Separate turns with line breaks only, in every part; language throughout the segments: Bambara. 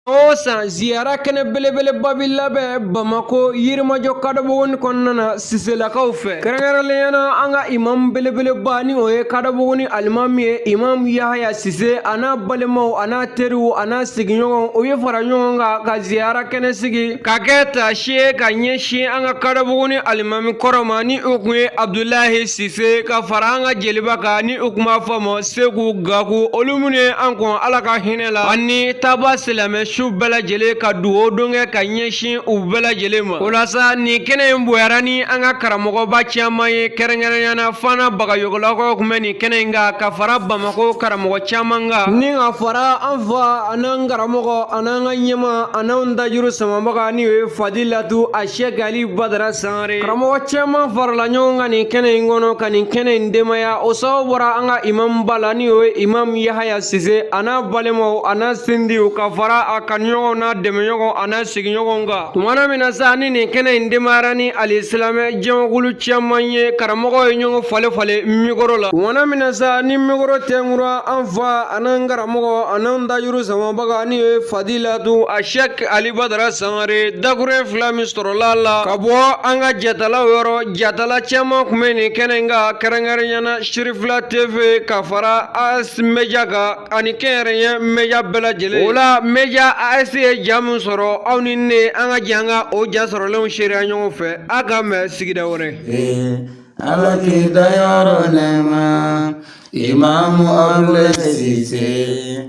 o san ziyara kɛnɛ belebeleba bi labɛn bamako yirimajɔ kadɔbogoni kɔnɔna na siselakaw fɛ kɛrɛnkɛrɛnlenya na an ka imamu belebeleba ni o ye kadɔbogoni alimami ye imamu yahaya sise a n'a balimaw a n'a teriw a n'a sigiɲɔgɔnw u ye fara ɲɔgɔn kan ka ziyara kɛnɛ sigi k'a kɛ taasi ye ka ɲɛsin an ka kadɔbogoni alimami kɔrɔ ma ni o kun ye abdulahi sise ka fara an ka jeliba kan ni u kun b'a fɔ a ma seku gaku olu minnu ye an kɔn ala ka hinɛ la ani taabaa silamɛ su bɛɛ lajɛlen ka dugawu don kɛ ka ɲɛsin u bɛɛ lajɛlen ma o la sa nin kɛnɛ in bonyara ni an ka karamɔgɔba caman ye kɛrɛnkɛrɛnyana fana bagayɔgɔlakaw kun bɛ nin kɛnɛ in kan ka fara bamakɔ karamɔgɔ caman kan ni ka fara an fa an'an karamɔgɔ an'an ka ɲɛmaa an'an dajuru samabaga ni o ye fadilatu a shɛki ali badara san karamɔgɔ caman farala ɲɔgɔn kan nin kɛnɛ in kɔnɔ ka nin kɛnɛ in denbaya o sababu bɔra an ka imamuba la ni o ye imamu yahaya sise a n'a balimaw a n'a sindiw ka fara a kanuɲɔgɔnw n'a dɛmɛɲɔgɔn a n'a sigiɲɔgɔnw kan tumana min na sa ni nin kɛnɛ in denbayara ni alisilamɛ jɛmakulu caman ye karamɔgɔw ye ɲɔgɔn falen falen mikoro la tumana min na sa ni mikoro tɛnkura an fa an'an karamɔgɔ an'an dajuru samabaga ni o ye fadilatu a shɛk ali badara sangare dakurun fila min sɔrɔla a la ka bɔ an ka jatalaw yɔrɔ jatala caman kun bɛ nin kɛnɛ in kan kɛrɛnkɛrɛnyana sirifila tv ka fara as media kan ani kɛnyɛrɛye media bɛɛ lajɛlen o la media as ye ja min sɔrɔ aw ni ne an ka jɛ an ka o ja sɔrɔlenw seereya ɲɔgɔn fɛ a ka mɛn sigida wɛrɛ ala
k'i dayɔrɔ nɛɛma imamu abulayi sise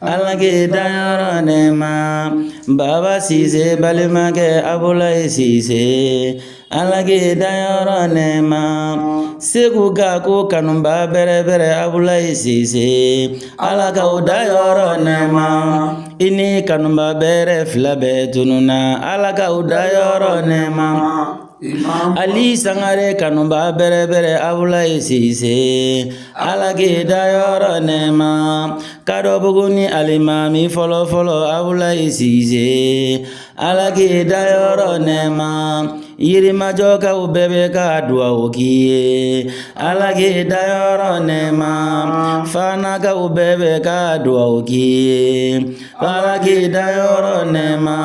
Ala k'i dayɔrɔ nɛma, Baba Sise balimakɛ Abulayi Sise. Ala k'i dayɔrɔ nɛma, Seku Gaku kanubaa bɛrɛ bɛrɛ Abulayi Sise. Ala k'aw dayɔrɔ nɛma, i ni kanubaa bɛrɛ fila bɛɛ tununna. Ala k'aw dayɔrɔ nɛma. Ali sangare kanubaa bɛrɛ bɛrɛ abulayi sise ala k'i dayɔrɔ nɛma kadɔbuguni alimami fɔlɔ fɔlɔ abulayi sise ala k'i dayɔrɔ nɛma yirimajɔkaw bɛɛ bɛ ka duwawu k'i ye ala k'i dayɔrɔ nɛma fanakaw bɛɛ bɛ ka duwawu k'i ye ala k'i dayɔrɔ nɛma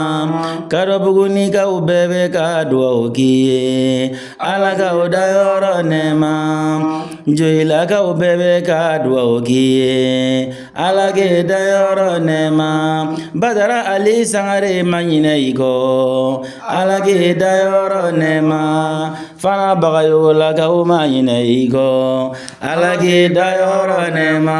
kadɔbugunikaw bɛɛ bɛ ka dugaw k'i ye ala k'aw dayɔrɔ nɛma joyilakaw bɛɛ bɛ ka dugaw k'i ye ala k'i dayɔrɔ nɛma badara ali sangare ma ɲinɛ i kɔ ala k'i dayɔrɔ nɛma fana bagayogolakaw ma ɲinɛ i kɔ ala k'i dayɔrɔ nɛma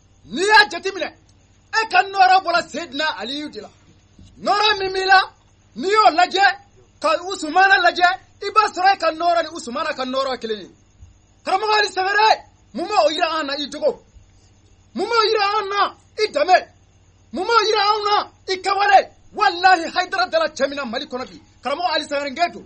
n'i y'a jateminɛ e ka nɔɔrɔ bɔra sedina aliyu de la nɔɔrɔ min b'i la n'i y'o lajɛ ka usumana lajɛ i b'a sɔrɔ e ka nɔɔrɔ ni usumana ka nɔɔrɔ kelen ye karamɔgɔ ali sangare mun b'o yira an na i jogo mun b'o yira an na i danbe mun b'o yira an na i kɛwale walahi hayidara dala cɛ min na mali kɔnɔ bi karamɔgɔ ali sangare n gɛn don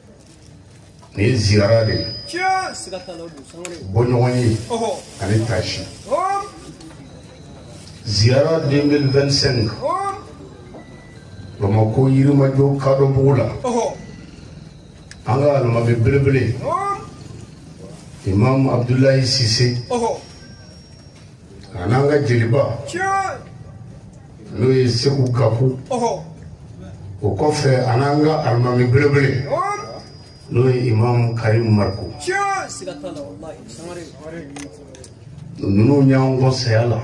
Nin ye ziyara de ye, tiɲɛ, siga t'a la, o don sangare, bɔɲɔgɔn ye, ɔhɔ, ani taasi, ɔɔ, ziyara 2025, ɔɔ, Bamakɔ Yirimajɔ kadɔbugu la, ɔhɔ, an ka alimami belebele, ɔɔ, Imam Abudulayi Sise, ɔhɔ. A n'an ka jeliba n'o ye segu gaku o kɔfɛ a n'an ka alimami belebele n'o ye imamu karim mariko ninnu y'an kɔn saya la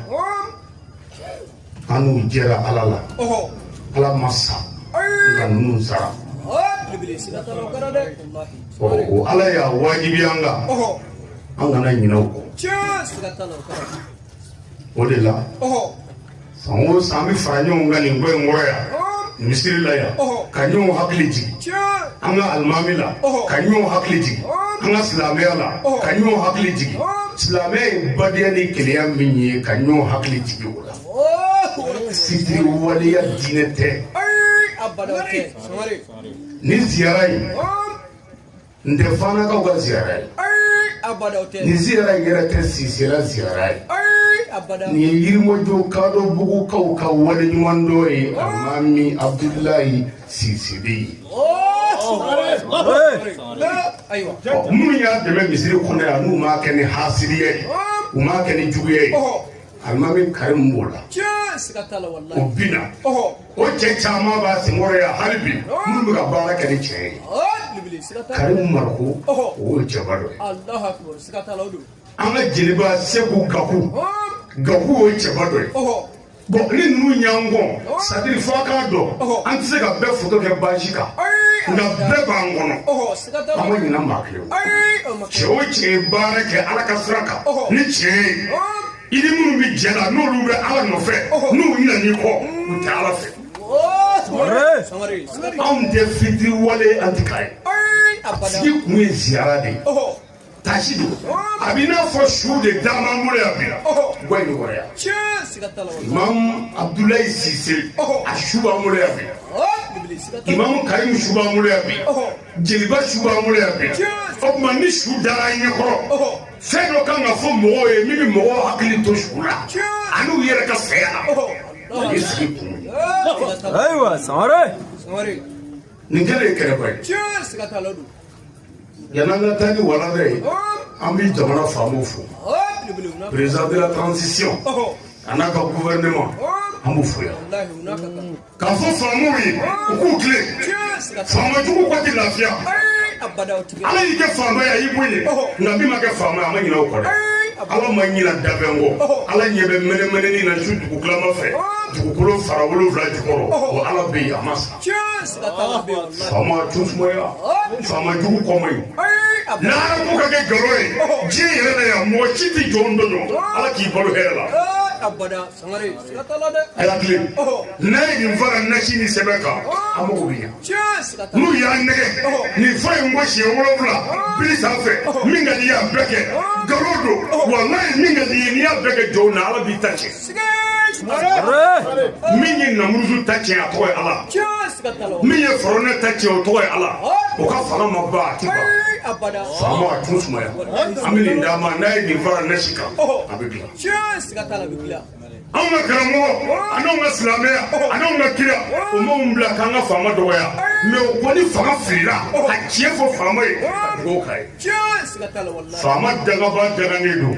an n'u jɛra ala la ala ma sa nka ninnu sara o ala y'a wajibi an kan an kana ɲinɛ u kɔ o de la san o san an bɛ fara ɲɔgɔn kan nin ko in kɔrɔ yan misiri la yan ka ɲɔgɔn hakili jigin an ka alimami la ka ɲɔgɔn hakili jigin an ka silamɛya la ka ɲɔgɔn hakili jigin silamɛya ye badenya ni kelenya min ye ka ɲɔgɔn hakili jigin o la fitiriwaleya diinɛ tɛ nin ziyara in tɛ fanakaw ka ziyara ye nin ziyara in yɛrɛ tɛ sisela ziyara ye nin ye yirimajɔ kadɔbugukaw ka waleɲumandɔn ye alimami abudulayi sise de ye minnu y'a dɛmɛ misiri kɔnɔ yan n'u m'a kɛ ni hasiriya ye u m'a kɛ ni juguya ye alimami karimu b'o la o bi na o cɛ caman b'a senkɔrɔ yan hali bi minnu bɛ ka baara kɛ ni cɛ ye karimu mariko o y'o cɛba dɔ ye an ka jeliba segu gaku gaku o ye cɛba dɔ ye bon ni ninnu y'an kɔn c'est-à-dire fɔ a k'a dɔn an tɛ se ka bɛɛ foto kɛ baasi kan nka bɛɛ b'an kɔnɔ an ma ɲinɛ maa kelen cɛ o cɛ ye baara kɛ ala ka sira kan ni cɛ ye i ni minnu bɛ jɛ la n'olu bɛ ala nɔfɛ n'u ɲinɛn'i kɔ u tɛ ala fɛ anw tɛ fitiriwale an ti k'a ye a sigi kun ye ziyara de ye tasi don a b'i n'a fɔ su de dama b'an bolo yan bi guwa in kɔrɔ yan imamu abudulayi sise a su b'an bolo yan bi imamu karimu su b'an bolo yan bi jeliba su b'an bolo yan bi o tuma ni su dara an ɲɛ kɔrɔ fɛn dɔ kan ka fɔ mɔgɔw ye min bɛ mɔgɔw hakili to su la ani u yɛrɛ ka saya la o ye sigi kun ye ayiwa
sangare
nin kɛlen kɛrɛfɛ ye yan'an ka taa ni walanda ye an bɛ jamana faamaw fo président de la transition a n'a ka gouvernement an b'u fo yan k'a fɔ faamaw ye u k'u tilen faamajugu kɔ tɛ lafiya ala y'i kɛ faama ye a y'i bonya nka min ma kɛ faama ye a ma ɲinɛ o kɔ dɛ ala ma ɲinɛ danfɛn kɔ ala ɲɛ bɛ mɛnɛmɛnɛni na su dugutilama fɛ dugukolo fara wolonwula jukɔrɔ o ala bɛ yen a ma sa Faamaw t'u sumaya faama jugu kɔ ma ɲi lahara ko ka kɛ nkalon ye diɲɛ yɛrɛ la yan mɔgɔ si tɛ jɔn tɔɲɔ ala k'i balo hɛrɛ la a y'a tilen n'a ye nin fara nasi ni sɛbɛn kan a mago bɛ ɲɛ n'u y'a nɛgɛn nin fa i ko siɲɛ wolonwula bili sanfɛ min ka di i y'a bɛɛ kɛ nkalon don walayi min ka di i ye n'i y'a bɛɛ kɛ jɔn na ala b'i ta tiɲɛ min ye namuruzu ta tiɲɛ a tɔgɔ ye ala min ye fɔrɔnɛ ta tiɲɛ o tɔgɔ ye ala o ka fanga ma ban a ti ban faama a t'u sumaya an bɛ nin d'a ma n'a ye nin fara nasi kan a bɛ dilan anw ka karamɔgɔ an'anw ka silamɛya an'anw ka kira o m'anw bila k'an ka faama dɔgɔya mais o ko ni fanga filila a tiɲɛ fɔ faama ye a dugawu k'a ye faama dangaba danganen don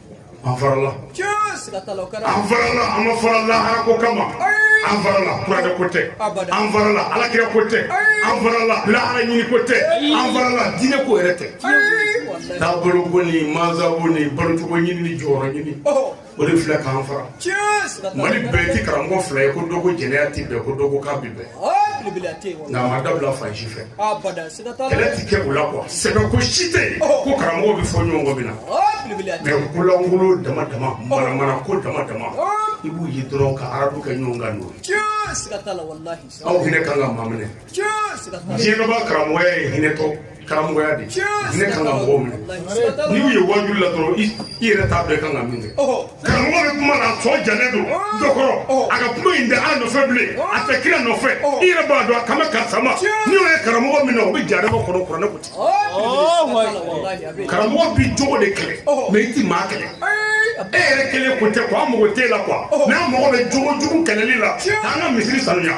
an farala an farala an ma fara lahara ko kama an farala kuranɛ ko tɛ an farala alakira ko tɛ an farala lahara ɲini ko tɛ an farala diinɛ ko yɛrɛ tɛ taabolo ko ni mansabu ni balocogo ɲini ni jɔyɔrɔ ɲini o de filɛ k'an fara mali bɛɛ ti karamɔgɔ fila ye ko dɔ ko jɛnɛya ti bɛn ko dɔ ko k'a bi bɛn nka a ma dabila fan si fɛ kɛlɛ tɛ kɛ o la quoi sɛbɛ ko si tɛ yen ko karamɔgɔ bɛ fɔ ɲɔgɔn kɔ min na mais ko lankolon dama dama manamana ko dama dama i b'u ye dɔrɔn ka arabu kɛ ɲɔgɔn kan n'o ye aw hinɛ kan ka maa minɛ diinɛ dɔnbaa karamɔgɔya ye hinɛtɔ karamɔgɔya de ye hinɛ kan ka mɔgɔw minɛ n'i y'u ye waajuli la dɔrɔn i yɛrɛ t'a dɔn i kan ka min kɛ karamɔgɔ bɛ kuma na a sɔn jalen don dɔ kɔrɔ a ka kuma in tɛ ala nɔfɛ bilen a tɛ kira nɔfɛ i yɛrɛ b'a dɔn a kan bɛ karisa ma n'i y'o ye karamɔgɔ min na o bɛ jahanama kɔnɔ kuranɛ ko ten karamɔgɔ bi jogo de kɛlɛ mais i ti maa kɛlɛ e yɛrɛ kelen ko tɛ ko an mago t'e la quoi mais an mago bɛ jogo jugu kɛlɛli la k'an ka misiri sanuya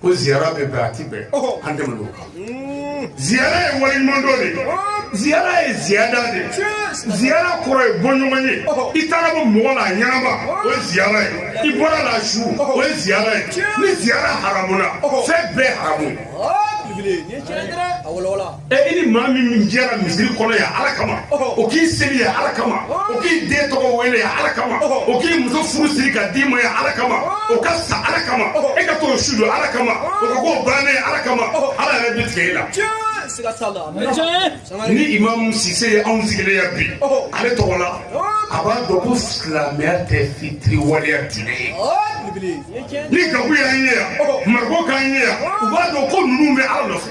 Ko ziyara bɛ bɛn a tɛ bɛn, ɔhɔ, an tɛmɛn n'o kan, un, ziyara ye waleɲumandɔn de ye, ɔɔ, ziyara ye ziyada de ye, tiɲɛ, ziyara kɔrɔ ye bɔɲɔgɔn ye, ɔhɔ. i taara bɔ mɔgɔ la a ɲɛnama o ye ziyara ye, i bɔra la a su Ɔhɔ. o ye ziyara ye, Tiɲɛ. ni ziyara haramuna Ɔhɔ. fɛn bɛɛ haramu. Ɔɔ, belebele, nin ye tiɲɛ ye dɛ, a walawala. ɛ i ni maa min min jɛra misiri kɔnɔ yan ala kama o k'i seli yan ala kama o k'i den tɔgɔ wele yan ala kama o k'i muso furu siri ka d'i ma yan ala kama o ka sa ala kama e ka t'o su don ala kama o ka ko bannen ala kama ala yɛrɛ bɛ tigɛ i la ni imamu sise ye anw sigilen yan bi ale tɔgɔ la a b'a dɔn ko silamɛya tɛ fitiri waleya diinɛ ye ni gaku y'an ye yan mariko k'an ye yan u b'a dɔn ko ninnu bɛ ala nɔfɛ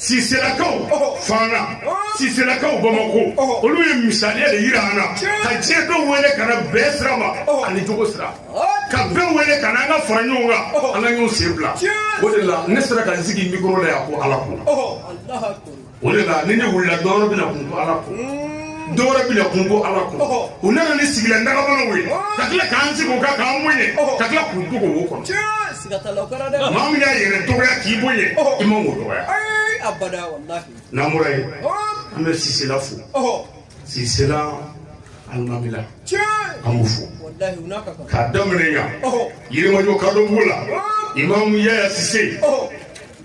siselakaw fana siselakaw bamakɔ olu ye misaliya de yira an na ka diɲɛ dɔw wele ka na bɛn sira ma ani jogo sira ka bɛɛ wele ka na an ka fara ɲɔgɔn kan an ka ɲɔgɔn sen bila o de la ne sera ka n sigi mikoro la yan ko ala ko o de la ni ne wulila dɔwɛrɛ bɛna kun ko ala ko dɔwɛrɛ bɛna kun ko ala ko u nana ni sigilan dagabanaw ye ka tila k'an sigi o kan k'an bonya ka tila k'u dogo o kɔnɔ Maa min y'a yɛrɛ dɔgɔya k'i bonya i man k'o dɔgɔya n'an bɔra yen an bɛ sisela fo sisela alimamila an b'u fo k'a daminɛ yan yirimajɔ kadɔbugu la imamu yaya sise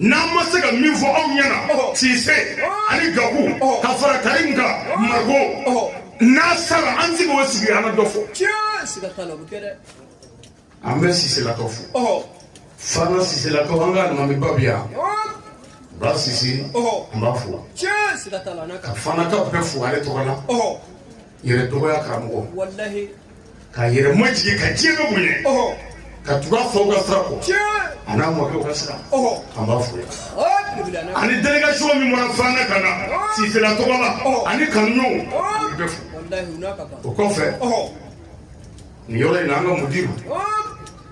n'an ma se ka min fɔ aw ɲɛna sise ani gaku ka fara karim kan mariko n'a sara an sigi o sigi an ka dɔ fɔ an bɛ siselakaw fo fana siselakaw an ka alimamiba bi yan ba sise n b'a fo ka fana ka bɛɛ fo ale tɔgɔ la yɛrɛ dɔgɔya karamɔgɔ ka yɛrɛ majigin ka diɲɛ bɛɛ bonya ka tugu a faw ka sira kɔ a n'a mɔkɛw ka sira an b'a fo ani délégation min bɔra fana ka na sisela tɔgɔ la ani kanuɲɔgɔnw u bɛ fo o kɔfɛ nin yɔrɔ in na an ka mudiru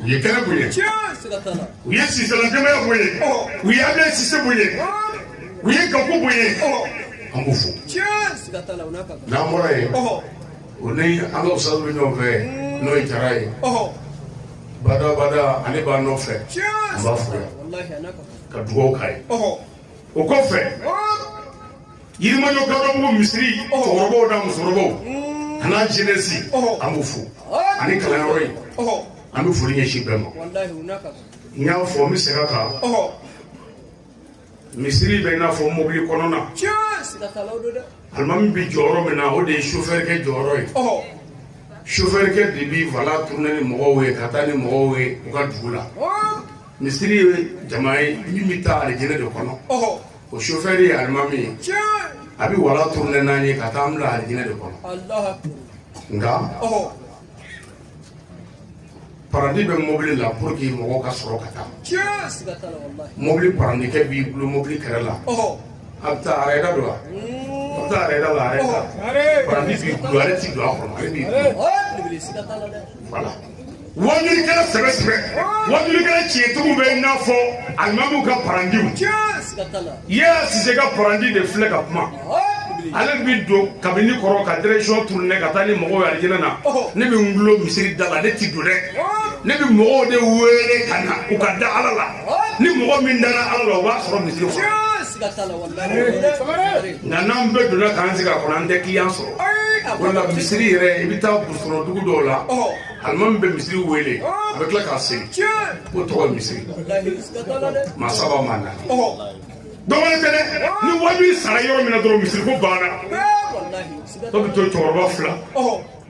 u ye kɛnɛ bonya u ye sisela denbaya bonya u ye ablaye sise bonya u ye gaku bonya an b'u fo n'an bɔra yen o ni an ka usitazu bɛ ɲɔgɔn fɛ n'o ye jara ye bada bada ale b'a nɔfɛ an b'a fo yan ka dugawu k'a ye o kɔfɛ yirimajɔ kadɔbugu misiri cɛkɔrɔbaw n'a musokɔrɔbaw an'a jenɛsi an b'u fo ani kalanyɔrɔ in an bɛ foli ɲɛsin bɛɛ ma n y'a fɔ n bɛ segin a kan misiri bɛ i n'a fɔ mobili kɔnɔna alimami bɛ jɔyɔrɔ min na o de ye sofɛrikɛ jɔyɔrɔ ye sofɛrikɛ de bɛ volant tourner ni mɔgɔw ye ka taa ni mɔgɔw ye u ka dugu la misiri ye jama ye min bɛ taa alijinɛ de kɔnɔ o chauffeur ye alimami ye a bɛ volant tourner n'an ye ka taa an bila alijinɛ de kɔnɔ nka parandi bɛ mobili la pour que mɔgɔw ka sɔrɔ ka taa mobili parandikɛ b'i dulon mobili kɛrɛ la a bɛ taa arɛda don wa a bɛ taa arɛda la arɛda parandi b'i dulon ale ti don a kɔnɔ ale b'i dulon voilà wajulikɛla sɛbɛ sɛbɛ wajulikɛla tiɲɛtigiw bɛ i n'a fɔ alimamiw ka parandiw yaya sise ka parandi de filɛ ka kuma ale bɛ don kabini kɔrɔ ka direction tourner ka taa ni mɔgɔw ye alijinɛ na ne bɛ n dulon misiri da la ne ti don dɛ ne bɛ mɔgɔw de wele ka na u ka da ala la ni mɔgɔ min dara ala la o b'a sɔrɔ misiri kɔnɔ nka n'an bɛɛ donna k'an sigi a kɔnɔ an tɛ kiliyan sɔrɔ o la misiri yɛrɛ i bɛ taa sɔrɔ dugu dɔw la alimami bɛ misiri wele a bɛ tila ka segin k'o tɔgɔ ye misiri maa saba maa naani dɔ wɛrɛ tɛ dɛ ni wajuli sara yɔrɔ min na dɔrɔn misiri ko banna tɔ bɛ to cɛkɔrɔba fila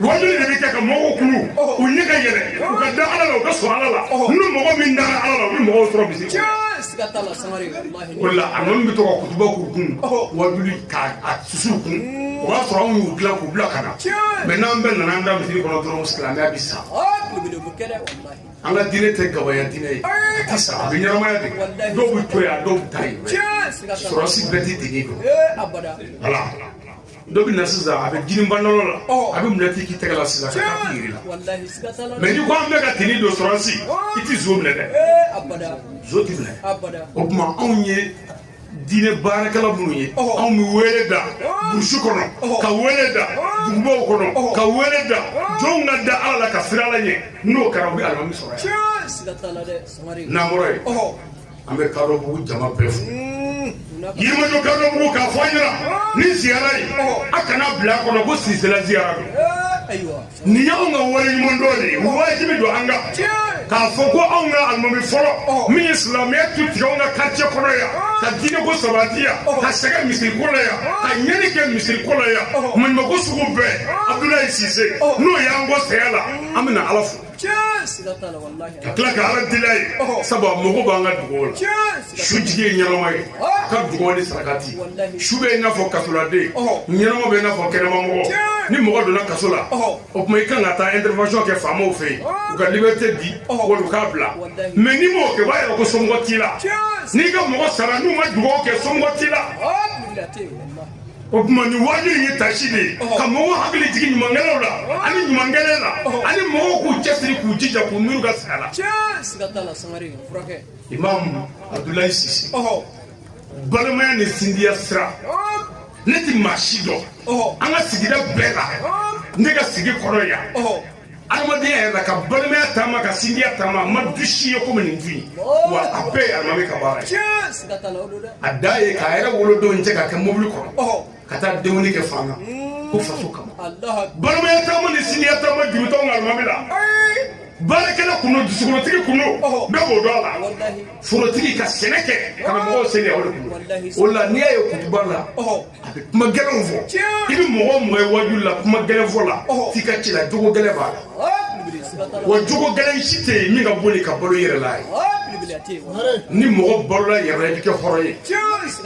wajuli de bɛ kɛ ka mɔgɔw kunun u ɲɛ ka yɛlɛ u ka da ala la u ka sɔn ala la ni mɔgɔ min dara ala la u bɛ mɔgɔw sɔrɔ misiri o la alimami bɛ to ka kutuba k'u kun wajuli k'a susu u kun o b'a sɔrɔ anw y'u dilan k'u bila ka na mɛ n'an bɛɛ nana an da misiri kɔnɔ dɔrɔn silamɛya bɛ sa an ka diinɛ tɛ gabaya diinɛ ye a tɛ sa a bɛ ɲɛnamaya de dɔw bɛ to yan dɔw bɛ taa yen sɔrɔsi bɛɛ tɛ tini don voilà dɔ bɛ na sisan a bɛ jini pantalɔn la a bɛ menɔti k'i tɛgɛ la sisan ka taa yiri la mɛ ni ko an bɛɛ ka tini don sɔrɔsi i tɛ zon minɛ dɛ zon tɛ minɛ o tuma anw ye diinɛ baarakɛla minnu ye anw bɛ wele da burusi kɔnɔ ka wele da dugubaw kɔnɔ ka wele da jɔnw ka da ala la ka siran ala ɲɛ n'o kɛra u bɛ alimami sɔrɔ yan n'an bɔra yen an bɛ kadɔbugu jama bɛɛ fo yirimajɔ kadɔbugu k'a fɔ an nana ni ziyara ye a kana bila a kɔnɔ ko sisela ziyara don nin y'anw ka waleɲumandɔn de ye wajibi don an kan k'a fɔ ko anw ka alimami fɔlɔ min ye silamɛya tu tigɛ anw ka quartier kɔnɔ yan ka diinɛ ko sabati yan ka sɛgɛn misiri ko la yan ka ɲɛni kɛ misiri ko la yan maɲumako sugu bɛɛ abudulayi sise n'o y'an kɔn saya la an bɛna ala fo ka tila ka ala deli a ye sabu a mago b'an ka dugaw la su jigi ye ɲɛnama ye a ka dugaw ni sarakati su bɛ i n'a fɔ kasoladen ɲɛnama bɛ i n'a fɔ kɛnɛmamɔgɔ ni mɔgɔ donna kaso la o tuma i kan ka taa intervention kɛ faamaw fɛ yen u ka liberté di wali u k'a bila mais n'i m'o kɛ o b'a yɛrɛ ko somɔgɔ t'i la n'i ka mɔgɔ sara n'u ma dugaw kɛ somɔgɔ t'i la o tuma nin waaju in ye tasi de ye ka mɔgɔw hakili jigin ɲumankɛlaw la ani ɲumankɛlɛ la ani mɔgɔw k'u cɛsiri k'u jija k'u miiri ka saya la imamu abudulayi sise balimaya ni sindiya sira ne tɛ maa si dɔn an ka sigida bɛɛ la ne ka sigi kɔrɔ yan adamadenya yɛrɛ la ka balimaya taama ka sinjiya taama a ma du si ye komi nin du in wa a bɛɛ ye alimami ka baara ye a da ye k'a yɛrɛ wolodenw cɛ k'a kɛ mobili kɔnɔ ka taa denkundi kɛ fan na ko faso kama balimaya taama ni sinjiya taama juru t'anw ka alimami la baarakɛla kun don dusukolotigi kun don bɛɛ b'o dɔn a la forotigi ka sɛnɛ kɛ ka na mɔgɔw seli o de kun o la n'i y'a ye kutuba la kuma gɛlɛnw fɔ i bɛ mɔgɔ mɔgɔ ye wajuli la kuma gɛlɛn fɔ la f'i ka ci la jogo gɛlɛn b'a la wa jogo gɛlɛn si tɛ yen min ka bon ni ka balo i yɛrɛ la ye ni mɔgɔ balola yɛrɛ la i bɛ kɛ hɔrɔn ye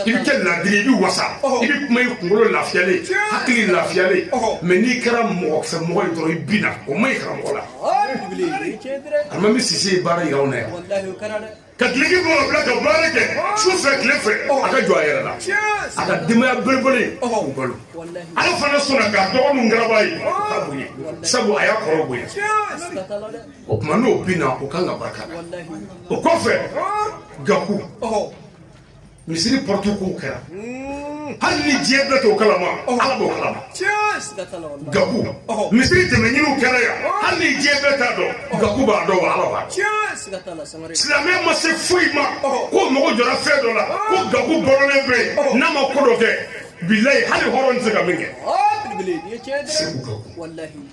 i bɛ kɛ ladiri i bɛ wasa i bɛ kuma i kunkolo lafiyalen hakili lafiyalen mais n'i kɛra mɔgɔ fɛ mɔgɔ ye dɔrɔn i binna o ma ɲi karamɔgɔ la alimami sise ye baara yira anw na yan ka duloki bɔ k'a bila ka baara kɛ su fɛ tile fɛ a ka jɔ a yɛrɛ la a ka denbaya belebele k'u balo ala fana sɔnna k'a dɔgɔ min garaba ye k'a bonya sabu a y'a kɔrɔ bonya o tuma n'o bina o kan ka barika la o kɔfɛ gaku misiri pɔrɔtu kow kɛra hali ni diɲɛ bɛɛ t'o kalama ala b'o kalama gabu misiri dɛmɛɲiniw kɛra yan hali ni diɲɛ bɛɛ t'a dɔn gabu b'a dɔn wa ala b'a dɔn silamɛya ma se foyi ma ko mɔgɔ jɔra fɛn dɔ la ko gabu bɔrɔlen bɛ yen n'a ma ko dɔ kɛ bilayi hali hɔrɔn tɛ se ka min kɛ segu gabu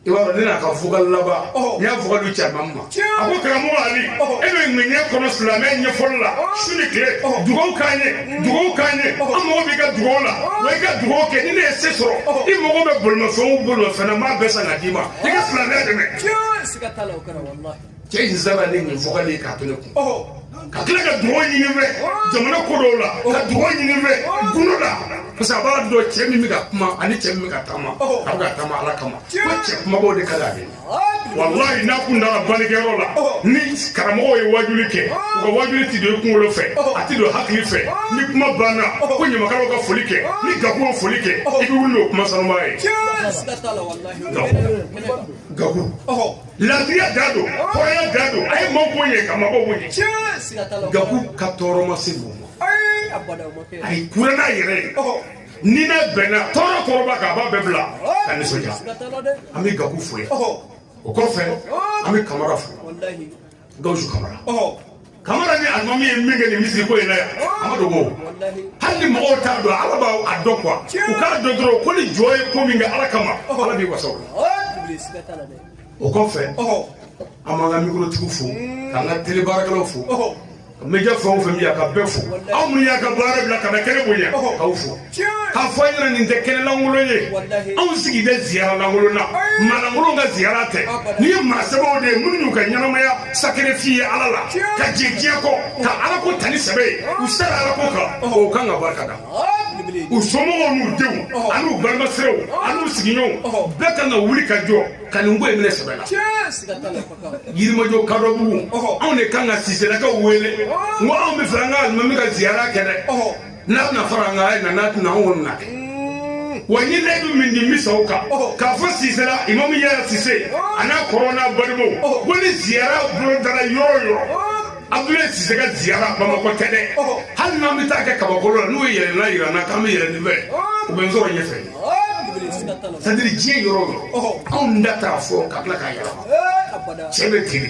i b'a dɔn ne n'a ka vocal laban n y'a vocal di caman ma a ko karamɔgɔ ali e bɛ ŋaniya kɔnɔ silamɛ ɲɛfɔli la su ni tile dugawu k'an ye dugawu k'an ye an mago b'i ka dugawu la wa i ka dugawu kɛ ni ne ye se sɔrɔ i mago bɛ bolimafɛnw bolimafɛn na n b'a bɛɛ san ka d'i ma i ka silamɛya dɛmɛ
cɛ in sara ni
nin vocal ye k'a to ne kun ka tila ka dugawu ɲini n fɛ jamana ko dɔw la ka dugawu ɲini n fɛ gundo la parce que a b'a dɔn cɛ min bɛ ka kuma ani cɛ min bɛ ka taama a bɛ ka taama ala kama ko cɛ kumabaw de ka d'ale ye walayi n'a kun dara balikɛyɔrɔ la ni karamɔgɔw ye wajuli kɛ u ka wajuli ti don i kunkolo fɛ a ti don hakili fɛ ni kuma banna ko ɲamakalaw ka foli kɛ ni gakuw foli kɛ i bɛ wuli n'o kuma sanuman ye gaku gaku lafiya da don kɔrɔya da don a ye maaw ko ye ka mabɔ ko ye tiɲɛ siga t'a la o gabu ka tɔɔrɔ ma se mɔgɔ ma ayi abada o ma kɛ a ye kura n'a yɛrɛ ye ni n'a bɛnna tɔɔrɔ tɔɔrɔba k'a ba bɛɛ bila ka nisɔndiya siga t'a la dɛ an bɛ gabu fo yan ɔhɔ o kɔfɛ an bɛ kamara fo walahi gawusu kamara ɔ kamara ni alimami ye min kɛ nin misiri ko in na yan a ma dogo hali ni mɔgɔw t'a dɔn ala b'a dɔn quoi u k'a dɔn dɔrɔn ko ni jɔn ye ko min kɛ ala kama ala b'i wasa o la o kɔfɛ an b'an ka mikorotigiw fo k'an ka tele baarakɛlaw fo média fɛn o fɛn bɛ yan ka bɛɛ fo aw minnu y'a ka baara bila ka na kɛnɛ bonya k'aw fo k'a fɔ a ɲɛna nin tɛ kɛnɛ lankolon ye anw sigi tɛ ziyara lankolon na maa lankolon ka ziyara tɛ nin ye maa sɛbɛw de ye minnu y'u ka ɲɛnamaya sacrifier ala la ka jɛ diɲɛ kɔ ka ala ko ta ni sɛbɛ ye u sara ala ko kan o kan ka barika da u somɔgɔw n'u denw ani u balimasiraw ani u sigiɲɔgɔnw bɛɛ kan ka wuli ka jɔ ka nin ko in minɛ sɛbɛ la yirimajɔ kadɔ bugu anw de kan ka siselakaw wele ko anw bɛ fɛ an ka alimami ka ziyara kɛ dɛ n'a bɛna fara an kan a ye na n'a tɛna anw kɔni n'a kɛ wa n ye layidu min di n bɛ sa o kan k'a fɔ sisela imamu yɛrɛ sise a n'a kɔrɔ n'a balimaw ko ni ziyara bolodara yɔrɔ o yɔrɔ abdoulaye sise ka ziyara bamakɔ tɛ dɛ hali n'an bɛ taa kɛ kabakolo la n'u ye yɛlɛnna yira n na k'an bɛ yɛlɛn nin fɛ u bɛ n sɔrɔ ɲɛfɛ c'est-à-dire diɲɛ yɔrɔ o yɔrɔ anw da t'a fɔ ka tila k'a yɛlɛma cɛ bɛ teri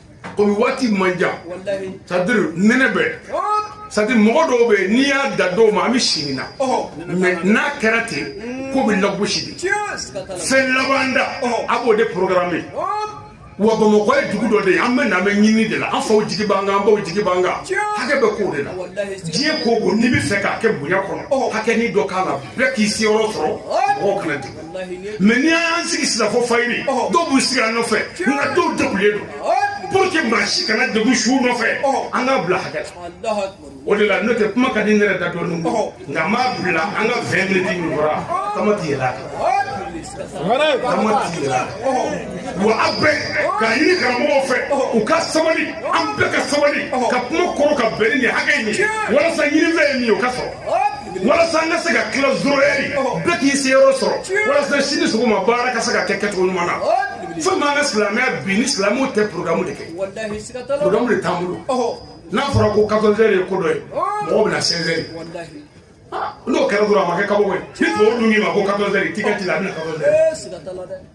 komi waati man jan c'est-à-dire nɛnɛ bɛ c'est-à-dire mɔgɔ dɔw bɛ n'i y'a da dɔw ma an bɛ si nin na mais n'a kɛra ten ko bɛ lagosi de fɛn laban da a b'o de programme wa bamakɔ ye dugu dɔ de ye an bɛ na an bɛ ɲini de la an faw jigi b'an kan an baw jigi b'an kan hakɛ bɛ k'o de la diɲɛ ko o ko n'i bɛ fɛ k'a kɛ bonya kɔnɔ hakɛnin dɔ k'a la bɛɛ k'i siyɔrɔ sɔrɔ mɔgɔw kana degun mais n'i y'an sigi sisan fo fayiri dɔw b'u sigi an nɔfɛ nka dɔw degunnen don pour que maa si kana degun su nɔfɛ an k'a bila hakɛ la o de la n'o tɛ kuma ka di n yɛrɛ da dɔɔnin nka n b'a bila an ka vingt minutes min fɔra quand même n tɛ yɛlɛn a kan quand même n tɛ yɛlɛn a kan wa a bɛɛ k'a ɲini karamɔgɔw fɛ u ka sabali an bɛɛ ka sabali ka kuma kɔrɔ ka bɛn ni nin hakɛ in ye walasa ɲinifɛn ye min ye o ka sɔrɔ walasa an ka se ka tila zéro heure bɛɛ k'i siyɔrɔ sɔrɔ walasa sini sɔgɔma baara ka se ka kɛ kɛcogo ɲuman na fɛn m'an ka silamɛya bin ni silamɛw tɛ programme de kɛ programme de t'an bolo n'a fɔra ko quatorze heures ye ko dɔ ye mɔgɔw bɛ na seize heures n'o kɛra dɔrɔn a ma kɛ kabako ye ni tubabu dun k'i ma ko quatorze heures tigitigi la a bɛ na quatorze heures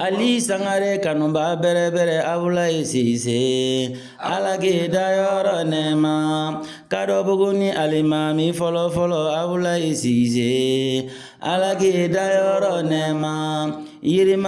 Ali sangare kanubaa bɛrɛbɛrɛ abdoulaye sise ala k'i dayɔrɔ nɛɛma kadɔbugu ni alimami fɔlɔfɔlɔ abdoulaye sise ala k'i dayɔrɔ nɛɛma yirima